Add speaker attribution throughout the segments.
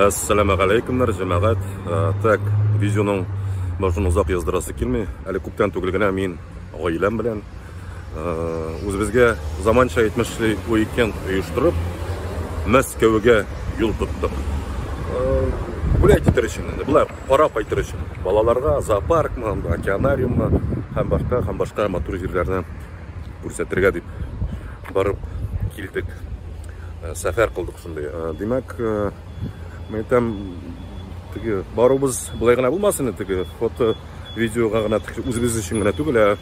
Speaker 1: Ассаламу алейкумнар, җәмәгать. Э, так, видеоның башын озак яздырасы килми. Әле күптән түгел генә мин гаиләм белән үзебезгә э, заманча 70-ле уикенд оештырып, Мәскәүгә юл тоттык. Гуляй э, китер өчен инде, болай карап кайтыр өчен. Балаларга зоопаркмы, океанариуммы һәм башка һәм башка матур җирләрне күрсәтергә дип барып килдек. Э, сәфәр кылдык шундый. Э, димәк, э, мен там теге барыбыз булай гына булмасын инде теге фото, видеога гына үзебез өчен генә түгел, ә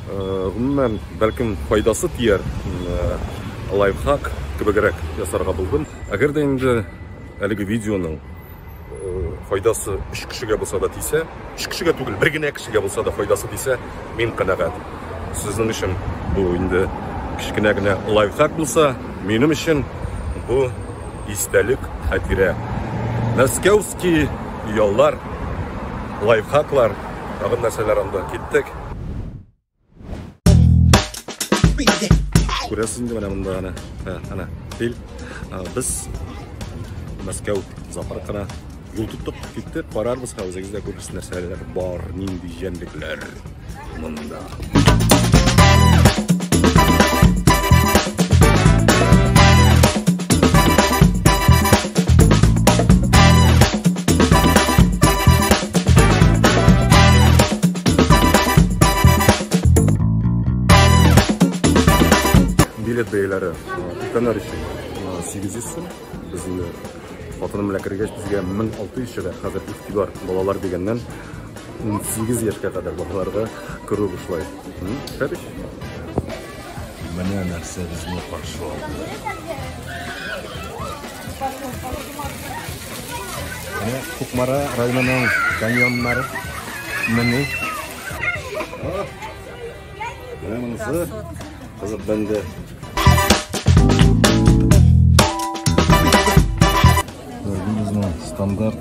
Speaker 1: гомумән бәлкем файдасы тияр лайфхак кебегрәк ясарга булдым. Әгәр дә инде әлеге видеоның файдасы өч кешегә булса да тисә, өч кешегә түгел, бер генә кешегә булса да файдасы тисә, мин канәгать. Сезнең өчен бу инде кечкенә генә лайфхак булса, минем өчен бу истәлек хәтирә. Мәскәүский яллар, лайфхаклар, тагын нәрсәләр анда киттек. Күрәсеңме менә монда ана? Ха, ана. Тел. Без Мәскәү зоопаркына юл тоттык, киттек, карарбыз ха үзегездә күрерсез нәрсәләр бар, нинди җәнлекләр монда. билет бәяләре өлкәннәр өчен 800 сум безнең хатыным белән кергәч безгә 1600 чыга хәзер игътибар балалар дигәннән 18 яшькә кадәр балаларга керү бушлай. Хәбиш. Менә нәрсә безне каршы алды. Менә Кукмара районының каньоннары. Менә. Менә монысы кызык бәндә. Безнең стандарт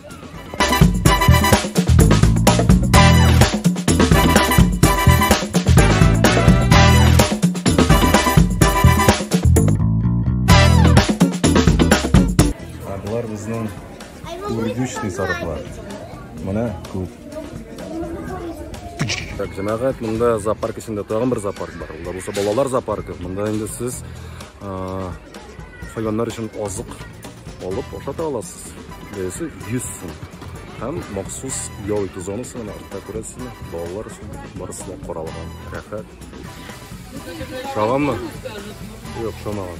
Speaker 1: Алар безнең үргүчный сарыклар. Менә күп. Так, җәмәгать, монда зоопарк эчендә тагын бер зоопарк бар. Ул да булса балалар зоопаркы. Монда инде сез хайваннар өчен азык алып ашата аласыз. Бересе 100 сум. Һәм махсус ял итү зонасы менә артта күрәсезме? Балалар өчен барысы да каралган. Рәхәт. Шаганмы? Юк, шамаган.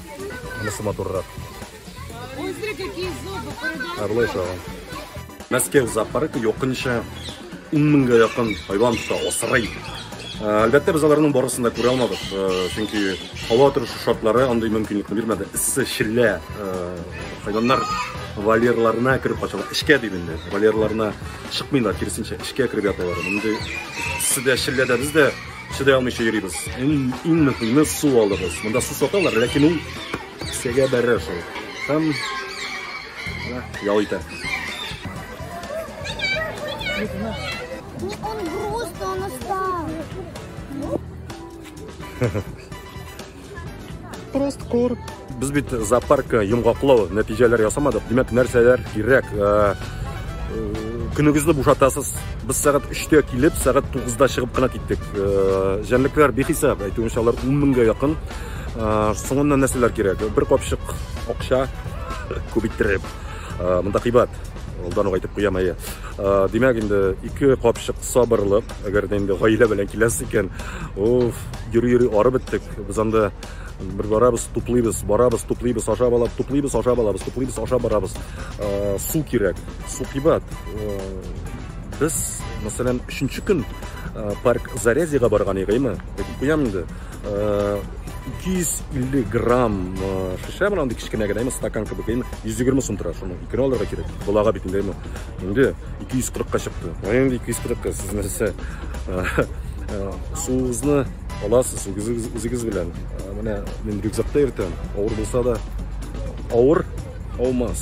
Speaker 1: Анысы матуррак. Ой, смотри, какие зубы, Ә болай шаган. Мәскәү зоопаркы якынча Ун меңгә якын хайван тота, асрый. Әлбәттә, без аларның барысын да күрә алмадык, чөнки һава торышы шартлары андый мөмкинлекне бирмәде. Эссе, шиллә хайваннар вольерларына кереп качалар. Эшкә дип инде, вольерларына чыкмыйлар, киресенчә, эшкә кереп яталар. Мондый эсседә, шилләдә без дә чыдай алмыйча йөрибез. Иң, иң мөһиме су алыгыз. Монда су саталар, ләкин ул кесәгә бәрә шул. Һәм Менә ял итә. Ну, он
Speaker 2: грустный, он устал.
Speaker 1: Просто кур. Без бит зоопарк йомгаклау нәтиҗәләр ясамадык. Димәк, нәрсәләр кирәк? Э, Көнегезне бушатасыз. Без сәгать 3-тә килеп, сәгать 9-да чыгып кына киттек. Э, Җәнлекләр бихисап, әйтүенчә, алар 10 меңгә якын. Соңыннан нәрсәләр кирәк? Бер капчык акча күп иттереп. Монда кыйбат. Алдан ук әйтеп куям әйе. Димәк инде ике капчык сабырлык, әгәр дә инде гаилә белән киләсе икән. Уф, йөри-йөри арып беттек. Без анда бер барабыз, туплыйбыз, барабыз, туплыйбыз, ашап алабыз, туплыйбыз, ашап алабыз, туплыйбыз, ашап барабыз. Су кирәк. Су кыйбат. Без, мәсәлән, 3 көн парк Зарязьега барган идек, әйеме? Әйтеп куям инде. 250 грамм шешә менә андый кечкенә генә стакан кебек әйме 120 сум тора шуны икене алырга кирәк балага бит инде әйме инде 240 ка чыкты инде 240 ка сез нәрсә суыгызны аласыз үзегез үзегез белән менә мин рюкзакта йөртәм авыр булса да авыр аумас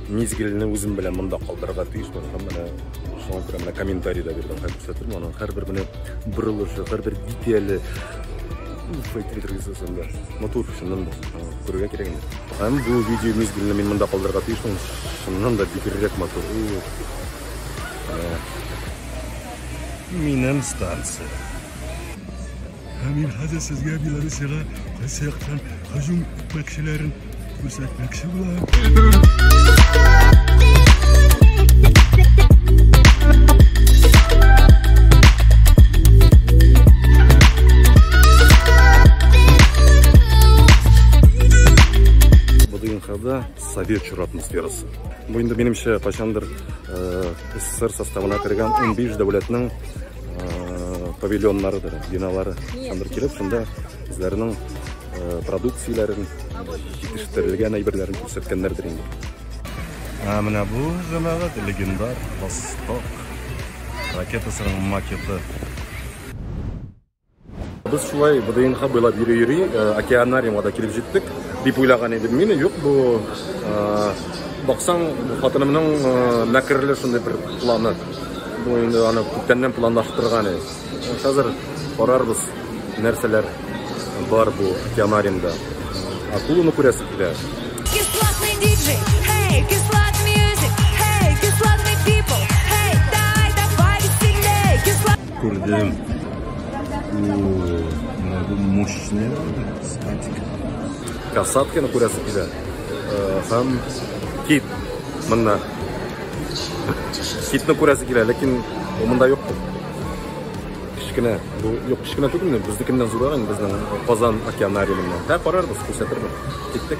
Speaker 1: Мизгелне үзем белән монда калдырырга тиешмен һәм менә шуңа күрә менә комментарий да бирдем һәм күрсәтермен аның һәрбер менә борылышы һәрбер детале файтинтересында матур чыннан да күрергә кирәк инде һәм бу видео мизгелне мин монда калдырырга тиешмен чыннан да бигрәк матур минем станция Ә мин хәзер сезгә Белоруссиягә кайсы яктан һөҗүм итмәкчеләрен күрсәтмәкче булам. Кырымда совет чоры атмосферасы. Бу инде минемчә кайчандыр э, СССР составына кергән 15 дәүләтнең павильоннарыдыр, биналары андыр килеп, шунда үзләренең продукцияләрен, җитештерелгән әйберләрен күрсәткәннәрдер инде. Ә менә бу җәмәгать легендар Восток ракетасының макеты. Без шулай ВДНХ буйлап йөри-йөри, э, океанариумга да килеп җиттек, дип уйлаган идем мин. Юк, бу э, баксаң, хатынымның э, мәкерле шундый бер планы. Бу инде аны күптәннән планлаштырган иде. Хәзер карарбыз, нәрсәләр бар бу океанариумда. Акуланы күрәсе килә.
Speaker 3: Кислотный диджей, эй, кислотный Күрдем.
Speaker 1: Ууу, менә бу мощный статик. Касатканы күрәсе килә. Һәм кит монда. Китне күрәсе килә, ләкин монда юк. Кечкенә, бу юк, кечкенә түгелме? Безнекеннән зуррак инде безнең Казан океанариумында. Һә карарбыз, күрсәтербез. Киттек.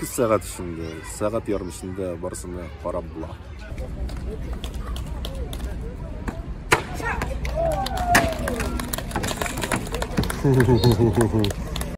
Speaker 1: 2 сәгать эчендә, сәгать ярым эчендә барысына карап була.